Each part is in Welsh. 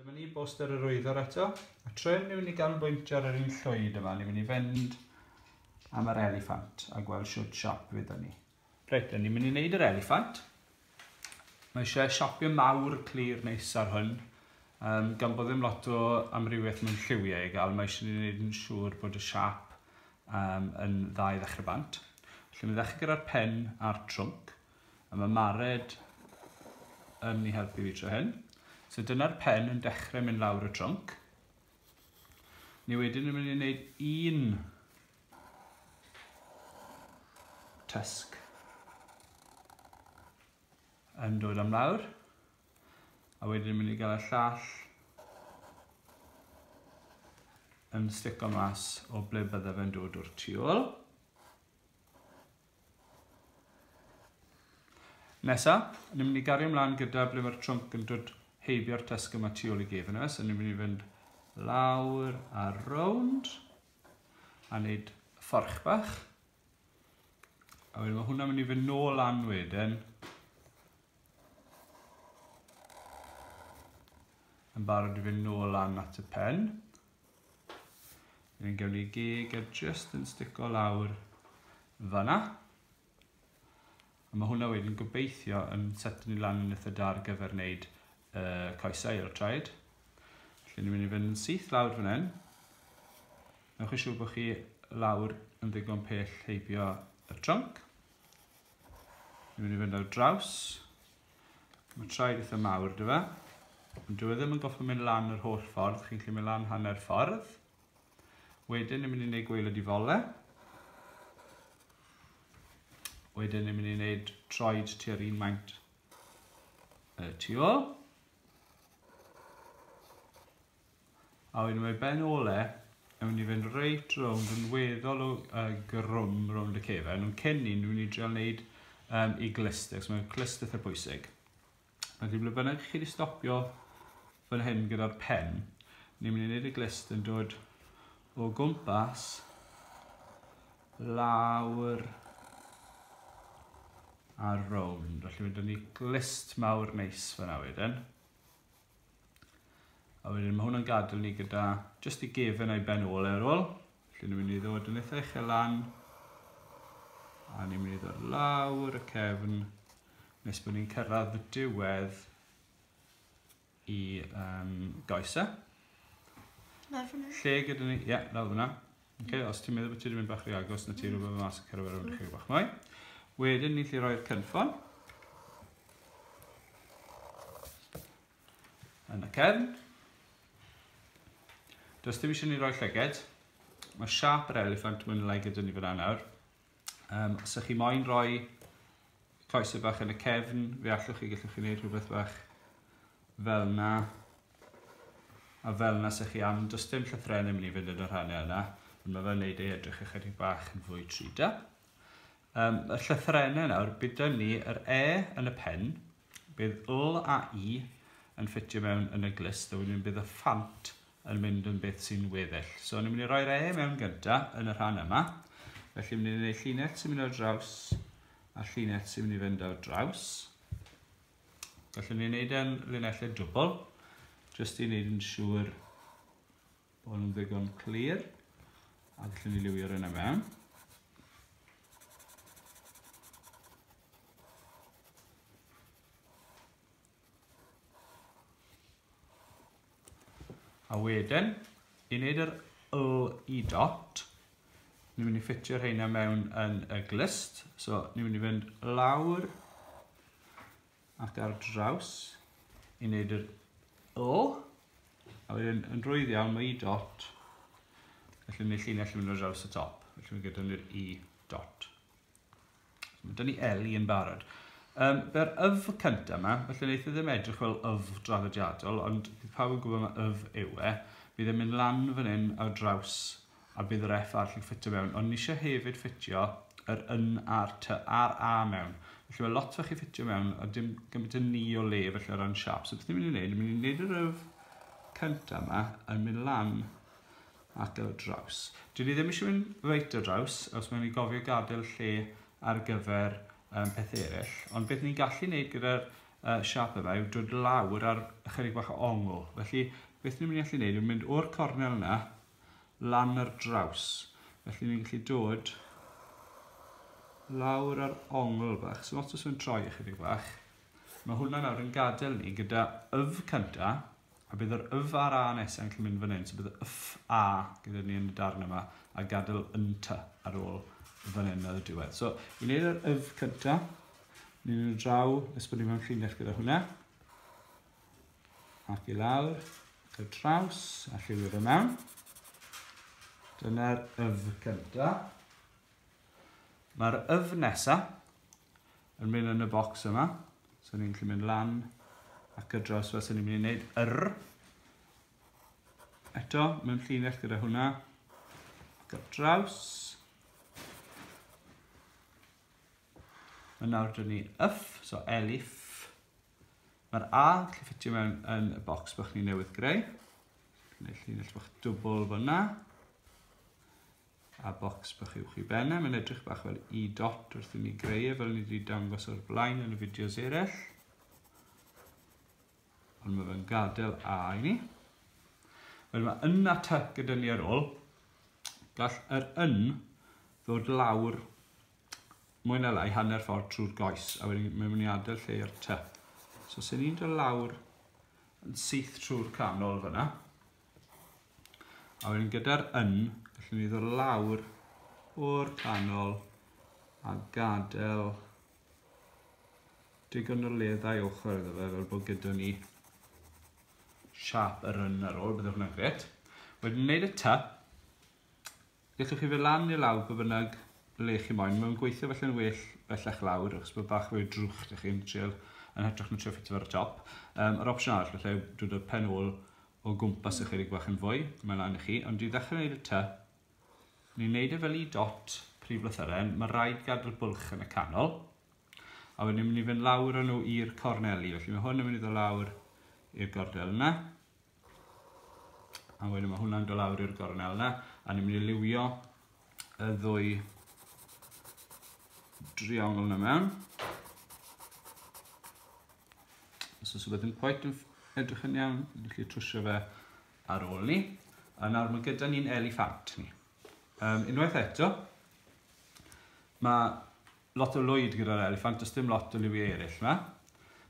Dyma ni, boster yr wyddor eto. A trwy mynd i fynd i ganolbwyntio ar yr un llwyd yma, ni'n mynd i fynd am yr eliffant a gweld siwt siop fydd ni. Reit, ni'n mynd i wneud yr eliffant. Mae eisiau siopio mawr clir neis ar hwn. Um, gan bod ddim lot o amrywiaeth mewn lliwiau i gael, mae eisiau ni wneud yn siŵr bod y siap um, yn dda i ddechrau bant. Felly mi ddechrau gyda'r pen a'r trwmc. A mae Mared yn mi helpu fi tro hyn. So dyna'r pen yn dechrau mynd lawr y trwmc. Ni wedyn yn mynd i wneud un tysg yn dod am lawr a wedyn yn mynd i gael y llall yn stico mas o ble bydde fe'n dod o'r tu ôl. Nesa, ni'n mynd i gario mlaen gyda ble mae'r trwmp yn dod heibio'r tesg yma tu ôl i gef yna, so ni'n mynd i fynd lawr a rownd a wneud fforch bach. A wedyn mae hwnna'n mynd i fynd nôl lan wedyn. Yn barod i fynd nôl lan at y pen. Yn gael ei geg a just yn stico lawr fanna. A mae hwnna wedyn gobeithio yn set ni lan yn eitha da ar gyfer wneud uh, coesau ar y traed. Felly ni'n mynd i fynd yn syth lawr fan hyn. Newch chi siŵr bod chi lawr yn ddigon pell heibio y trunk. Ni'n mynd i fynd ar draws. Mae'n traed eitha mawr, dy fe? Ond dwi e ddim yn goffa mynd lan yr holl ffordd, chi'n gallu mynd lan hanner ffordd. Wedyn ni'n mynd i wneud gweilod i fole. Wedyn ni'n mynd i wneud troed tua'r un maint y tu ôl. A wedyn mae ben ole yn mynd i fynd reit rownd yn weddol o uh, grwm rownd y cefen. Ond cyn ni, ni'n mynd i dreol wneud um, i glyster, so mae'n clyster eitha pwysig. Mae ddim ble bynnag chi wedi stopio fan hyn gyda'r pen, ni'n mynd i wneud y glist yn dod o gwmpas lawr ar rownd. Felly mae dyn ni glist mawr neis fyna wedyn. A wedyn mae hwnna'n gadael ni gyda jyst y gefen a'i ben ôl ar ôl. Felly ni'n mynd i ddod yn eitha uchel lan. A ni'n mynd i ddod lawr y cefn nes bod ni'n cyrraedd y diwedd i um, goesau. Lawr fyna. Lle gyda ni, ie, yeah, lawr fyna. Okay, os ti'n meddwl bod ti'n mynd bach rhy agos na ti'n rhywbeth mas y cerw ar ymwneud chi bach mwy. Wedyn ni chi roi'r cynffon. Yn y cefn. Does dim eisiau ni roi llyged. Mae siap yr elephant mwyn lai gyda ni fyna nawr. Um, os ydych chi moyn rhoi coesau bach yn y cefn, fe allwch chi gallwch chi wneud rhywbeth bach fel na. A fel na sych chi am, does dim llythrenau mynd i fynd yn y rhannau yna, ond mae fe'n neud ei edrych ychydig bach yn fwy 3D. Um, y llythrenau nawr, bydd dyn ni yr E yn y pen, bydd L a I yn ffitio mewn yn y glist, a wedyn bydd y ffant yn mynd yn beth sy'n weddill. So, ni'n mynd i roi'r E mewn gynta yn y rhan yma. Felly, ni'n mynd i wneud llinell sy'n mynd ar draws a llinell sy'n mynd i fynd ar draws. Felly, ni'n gwneud yn linellau dwbl, jyst i wneud yn siŵr bod nhw'n ddigon clir. A felly, ni liwio'r yna mewn. A wedyn, i wneud yr LE dot, ni'n mynd i ffitio rheina mewn yn y glust. So, ni'n mynd i fynd lawr ac ar draws i wneud yr LE. A wedyn, yn rwydd iawn, mae E dot. Felly, ni'n llinell yn mynd ar draws y top. Felly, mae gyda ni'r E dot. Dyna ni Ellie yn barod. Um, Be'r yf cyntaf yma, felly wneud i e ddim edrych fel yf draddodiadol, ond bydd pawb yn gwybod mae yf yw e. Bydd e'n mynd lan fan hyn ar draws a bydd yr F arall yn ffitio mewn. Ond ni eisiau hefyd ffitio yr yn a'r ty a'r a mewn. Felly mae lot fach i ffitio mewn a dim gymaint yn ni o le felly o ran siap. So beth ni'n mynd i wneud, ni'n mynd i wneud yr yf cyntaf yma yn mynd lan at y draws. Dwi ddim eisiau mynd reit ar draws, os mae'n i gofio gadael lle ar gyfer um, pethau eraill. Ond beth ni'n gallu gwneud gyda'r uh, siap yma yw dod lawr ar ychydig bach o ongl. Felly, beth ni'n mynd i allu gwneud yw mynd o'r cornel yna lan ar draws. Felly ni'n gallu dod lawr ar ongl bach. So os oes yn troi ychydig bach, mae hwnna nawr yn gadael ni gyda yf cynta, A bydd yr yf a'r a nesa yn cael mynd fan hyn. So bydd y yf a gyda ni yn y darn yma a gadael yn ty ar ôl fan hyn ar y diwedd. So i wneud yr yf cynta, ni'n mynd draw, nes bod ni mewn llinell gyda hwnna. Ac i lawr, ac y traws, a lliwio fe mewn. Dyna'r yf cynta. Mae'r yf nesa yn mynd yn y bocs yma. So ni'n gallu mynd lan ac y dros fel sy'n ni'n mynd i wneud yr. Eto, mewn llinell gyda hwnna. Ac y draws. Mae nawr dyn ni yff, so elif. Mae'r A yn gallu ffitio mewn yn y bocs bych ni newydd greu. Gwneud llinell bych dwbl fyna. a bocs bach uwch i ben e, mae'n edrych bach fel i dot wrth i mi greu e fel ni wedi dangos o'r blaen yn y fideos eraill. Ond mae fe'n gadael A i ni. Wel mae yn a ty gyda ni ar ôl. Gall yr yn ddod lawr mwy na lai hanner ffordd trwy'r goes a wedyn mae'n mynd i adael lle i'r ty. So sy'n ni'n dod lawr yn syth trwy'r canol fyna. A wedyn gyda'r yn, gallwn ni ddod lawr o'r canol a gadael digon o le ddau ochr iddo fe fel bod gyda ni siap yr yn ar ôl, bydd hwnna'n gret. Wedyn wneud y ta, Gellwch chi fe lan neu lawr pa bynnag le chi moyn. Mae'n gweithio felly'n well bellach lawr achos bod bach fwy o drwch da chi'n trial yn hytrach na trio ffitio ar y top. Um, yr opsiwn arall felly yw dod â'r pen ôl o gwmpas ychydig bach yn fwy, mae lan i chi, ond i ddechrau wneud y ty, ni'n wneud e fel i dot prif lythyren, mae rhaid gadw'r bwlch yn y canol, a wedyn ni'n mynd i fynd lawr â nhw i'r corneli, felly mae hwn yn mynd i ddod lawr i'r gornel yna, A wedyn mae hwnna'n dod lawr i'r gornel yna, a ni'n mynd i liwio y ddwy driongl yna mewn. Os oes rhywbeth yn pwynt yn edrych yn iawn, ni'n gallu trwsio fe ar ôl ni. A nawr mae gyda ni'n eliffant ni. Um, unwaith eto, mae lot o lwyd gyda'r eliffant, does dim lot o liwiau eraill yma.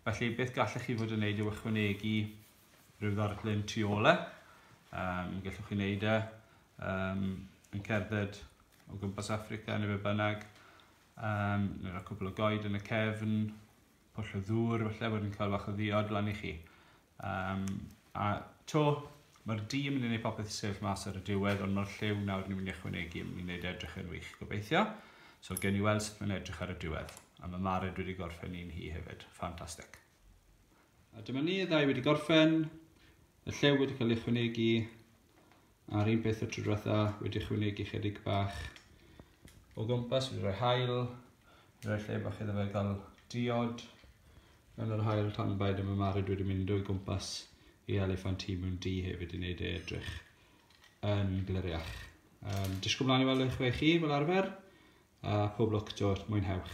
Felly beth gallech chi fod yn gwneud yw ychwanegu rhyw ddarlun tu ôl e. Um, mi gallwch chi wneud e um, yn cerdded o gwmpas Africa neu fe bynnag. Um, neu rhoi cwbl o goed yn y cefn, pwll o ddŵr, felly bod yn cael fach o ddiod lan i chi. Um, a to, mae'r di yn mynd i wneud popeth sefyll mas ar y diwedd, ond mae'r lliw nawr ni'n mynd i ychwanegu yn mynd i wneud edrych yn wych, gobeithio. So, gen i weld sut mae'n edrych ar y diwedd. A mae Mared wedi gorffen un hi hefyd. Ffantastig. A dyma ni, y ddau wedi gorffen, y llew wedi cael ei chwynegu, a'r un peth y tro diwetha wedi chwynegu chydig bach o gwmpas, wedi rhoi hael, wedi rhoi lle bach iddo fe gael diod yn yr hael tan baid y mymarid wedi mynd o'i gwmpas i elefant hi mewn di hefyd i wneud ei edrych yn gliriach. Um, disgwyl mlaen i weld eich rei chi fel arfer, a phob lwc Joel, mwynhewch.